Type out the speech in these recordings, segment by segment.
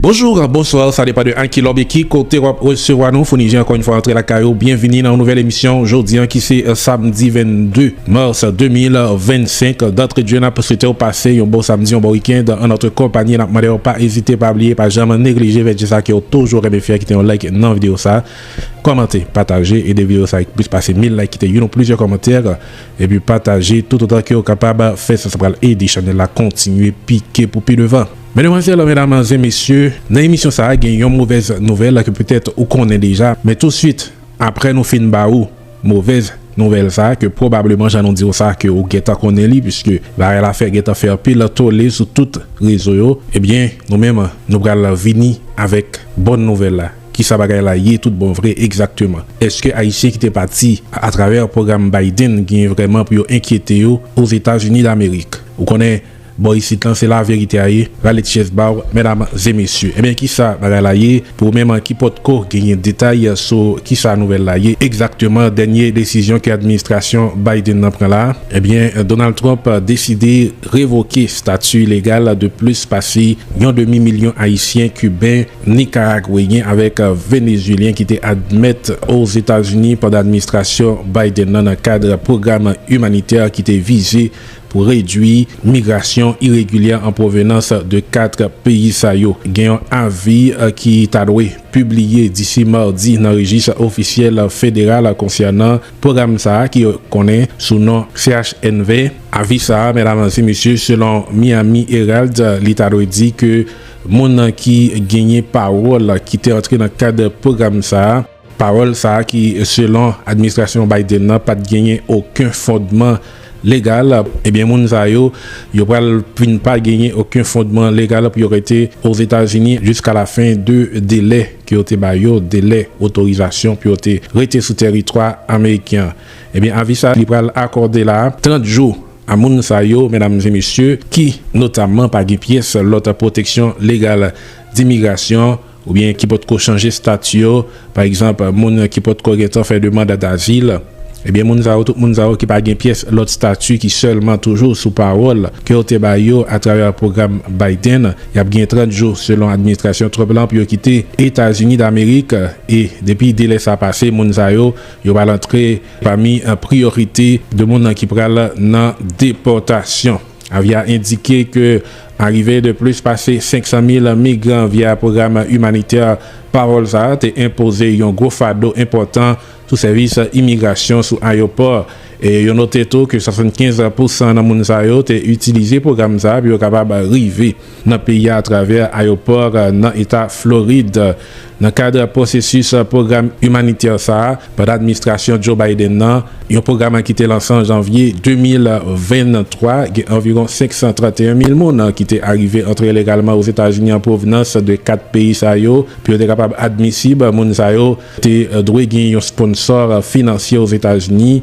Bonjour, bonsoir sa depa de an ki lòb e ki kote wap resevwa nou Founi Jean ankò yn fwa antre lakay ou byenvini nan yon nouvèl emisyon jodi an ki se samdi 22 mars 2025 dantre dje nap swetew pase yon bon samdi yon bon weekend an notre konpani nap mandew pa ezite pa bliye pa janm neglije fè dje sa kew toujou renmen fè kite yon like nan video sa kòmante pataje ede video sa ak plis pase 1000 like kite youn ou plizyè kòmantè epi pataje tout otan kew kapab fè sa sa pral ede chanèl la kontinye pike pou pi devan. Medemwazèl, medamanze, mesye, nan emisyon sa a gen yon movèz nouvèl ke petèt ou konnen deja, men tousuit apre nou fin ba ou movèz nouvèl sa a ke pwobableman jan nou di w sa ke ou gentan konnen li puiske bagay la fè gentan fè anpil tole sou tout rezo yo, ebyen nou menm nou pral vini avèk bòn nouvèl la. Kisa bagay la ye tout bon vre egzakteman? Eske Ayisyen ki te pati atravè pwogram Biden gen vrèman pou yo enkyete yo Ozetazini Damerik? Ou konnen Bò isit lan se la verite a ye rale ti chèz baw mèdam ze mesye ebyen kisa bagay la ye pou ou menm ki potko genyen detay sou kisa nouvèl la ye egzakteman dènye desizyon ke administrasyon Biden nan pran la ebyen Donald Trump deside revoke stati legal de plis pase yon demi milyon ayisyen kiben nikaragweyen avèk venezuelyen ki te admèt ozetazini pandan administrasyon Biden nan nan kad pwogram imanitè ki te vize Pou redwi migrasyon iregilyè an pwovenans de 4 peyi sa yo, gen yon avi ki ta dwe pibliye disi madi nan rejis ofisyèl federal konsènan pwogram sa a ki konnen sou non CHNV. Avi sa a, medam e mesye, selon Miami Herald, li ta dwe di ke moun ki genyen pawòl ki te antre nan kad pwogram sa a, Pawòl sa a ki selon administrasyon Biden nan pat genyen oken fondman legal, ebyen moun sa yo, yo pral vin pa genyen oken fondman legal pou yo rete Ozetazini jiska lafen de delè ke yo te ba yo, delè otorizasyon pou yo te rete sou tèritwa ameriken an. Ebyen avi sa li pral akòde la, 30 jou, a moun sa yo, medam e mesye, ki notamman pa gen pyès lòt pwoteksyon legal dimigrasyon. oubyen ki potko chanje stati yo, pa egzanp, moun ki potko gentan fè demand dazil, ebyen moun sa yo, tout moun sa yo ki pa gen pyès lòt stati ki sèlman toujou sou pawòl ke yo te bay yo atravè pwogram Biden, y ap gen 30 jou selon administrasyon Trump lan pou yo kite Etazini Damerik e depi delè sa pase moun sa yo, yo pral antre pami priyorite de moun ki pral nan depòtasyon. Avia endike ke arive de plis pase 500 mil migran via pwogram imanitè Parole sa a te enpoze yon gwo fado enpòtan sou sèvis imigrasyon sou ayopò. Yo note tou ke 75 pousan nan moun sa yo te itilize pwogram sa a pou yo kapab rive. nan peyi a atravè ayopò nan eta Florid. Nan kad pwosesis pwogram imanitè sa a pandan administrasyon Joe Biden nan, yon pwogram ki te lanse an janvye 2023, gen anviwon 531 mil moun ki te arive antre ilegalman Ozetazini an pwovnans de 4 peyi sa yo. Pou yo te kapab admisib, moun sa yo te dwe gen yon sponsò finansye Ozetazini.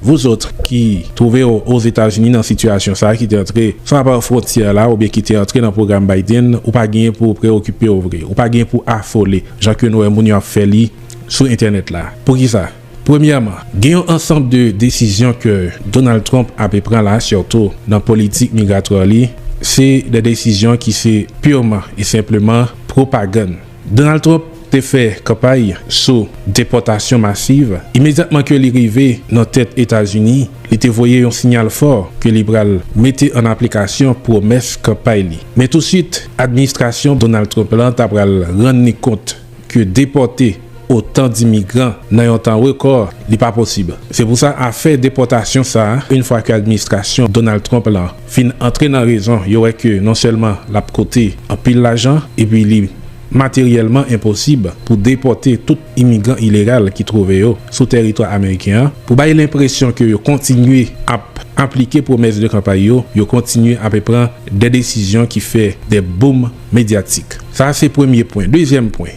Vous autres ki twouve w Ozetazini nan sitiyasyon sa a ki te antre san apare fwontyè la oubyen ki te antre nan pwogram Biden, ou pa genyen pou w preyokipe w vre, ou pa genyen pou w afole jan ke nou wè moun yo ap fè li sou entènèt la. Poukisa? Premyèman, gen yon ansanb de desizyon ke Donald Trump ape pran la a sitou nan politik migratwè li, se de desizyon ki se purement et simplement pwopagann. Donald Trump te fè kanpay sou depòtasyon masiv. Imedyatman ke li rive nan tèt Etazini, li te voye yon sinyal fò ke li pral mete an aplikasyon pwomès kanpay li. Men tousuit, administrasyon Donald Trump la ta pral rann li kont ke depòte otan dimigran nan yon tan rekò li pa posib. Se pou sa afè depòtasyon sa, une fois ke administrasyon Donald Trump la fin antre nan rezon, yo wè ke non sèlman l ap kote anpil lajan epi li materyèlman enposib pou depòte tout imigran ilegal ki twouve yo sou tèritwa ameriken an. Pou bay lenpresyon ke yo kontinye ap aplike pwomès de kanpay yo, yo kontinye ape pran de desizyon ki fè de boom medyatik. Sa a se premye pwen. Dezyèm pwen.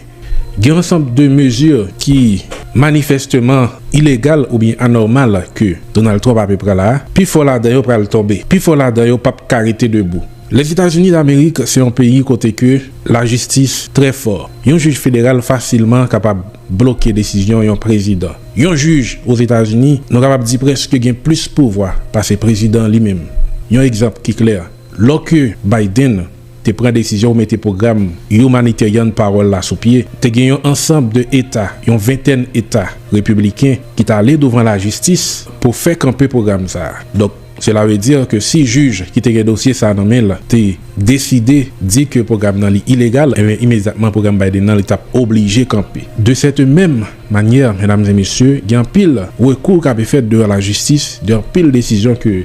Gen ansanb de mezi ki manifèsteman ilegal oubyen anòmal ke Donald Trump ape pran la a, pi fò ladan yo pral tonbe, pi fò ladan yo pap ka rete debou. Lèzetazini Damerik se yon peyi kote ke lajistis trè fò. Yon jij federal fasilman kapab bloke desizyon yon prezidan. Yon jij Ozetazini nou kapab di prèske gen plis pouvwa pase prezidan li menm. Yon egzanp ki klè, lò ke Biden te pran desizyon pou mete pwogram Humanitarian Parole la sou pye, te gen yon ansanb de eta, yon ventèn eta repibliken ki t ale douvan lajistis pou fè kanpe pwogram sa a. Donk, sela ve di ke si jij ki te gen dosye sa a nan men l te deside di ke pwogram nan li ilegal, enben imedyatman pwogram Biden nan li t ap oblije kanpe. De sète menm manyè, medam e mesye, gen anpil rekou k ape fèt devan lajistis de anpil desizyon ke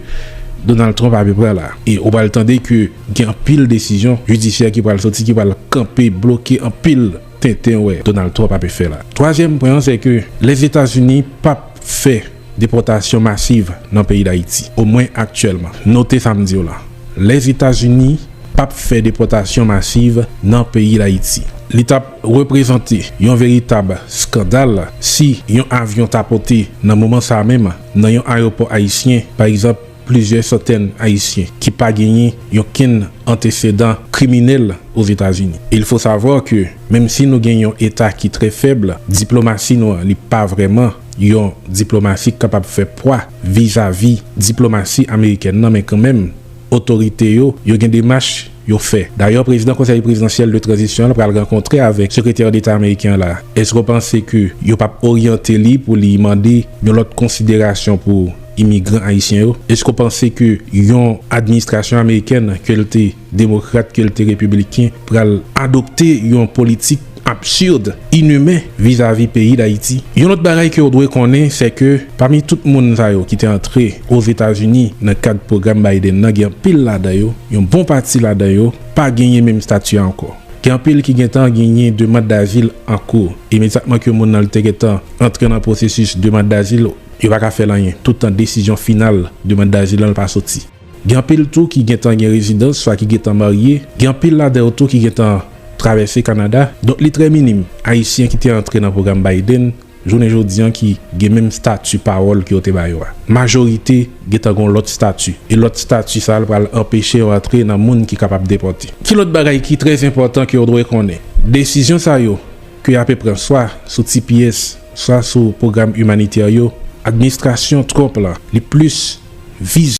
Donald Trump ape pran la. E ou pral tande ke. Gen anpil desizyon jidisyè ki pral soti ki pral kanpe, bloke anpil tenten wè Donald Trump ape fè la. Twazyèm pwen an se ke Lèzetazini pap fè depòtasyon masiv nan peyi Dayiti, omwen aktyèlman. Note sa m di w lan. Lèzetazini pap fè depòtasyon masiv nan peyi Dayiti. Li tap reprezante yon veritab skandal si yon avyon ta pote nan moman sa menm nan yon ayewopò ayisyen, pa egzanp, Plizyè santèn Ayisyen ki pa genyen yon kenn antesedan kriminèl Ozetazini. Il faut savoir que menm si nou gen yon eta ki trè fèb, diplomasi nou an li pa vrèman yon diplomasi k kapab fè pwa vizavi diplomasi amerikèn nan men kanmenm otorite yo yo gen demach yo fè. Dayè prezidan konsèy prezidansyèl de tranzisyon an pral rankontre avèk sekretè deta ameriken an la. Èske w panse ke yo p ap oryante li pou li mande yon lòt konsiderasyon pou Imigran Ayisyen yo, eske w panse ke yon administrasyon amerikèn, ke l te demokrat, ke l te repibliken, pral adopte yon politik absurd, inhumain vizavi peyi Dayiti? Yon lòt bagay ke w dwe konnen, sè ke pami tout moun sa yo ki te antre Ozetazini nan kad pwogram Biden nan, gen anpil ladan yo, yon bon pati ladan yo, pa genyen menm stati a ankò. Gen anpil ki gentan genyen demand dazil an kou, imedyatman ke moun nan te gentan antre nan pwosesis demand dazil. Yo pa ka fè l anyen tout tan desizyon final demand dazil lan pa soti. Gen anpil tou ki gentan gen rezidans swa ki gentan marye, gen anpil ladan yo tou ki gentan travèse Kanada, donk li trè minim Ayisyen ki te antre nan pwogram Biden jounen jodi an ki gen menm stati pawòl ke yo te ba yo a. Majorite gentan gen yon lòt stati, e lòt stati sa l pral anpeche yo antre nan moun ki kapab depòte. Ki lòt bagay ki trè enpòtan ke yo dwe konnen? Desizyon sa yo ke y ape pran swa sou tps, swa sou pwogram imanitè yo, administrasyon Trump la, li plis vize.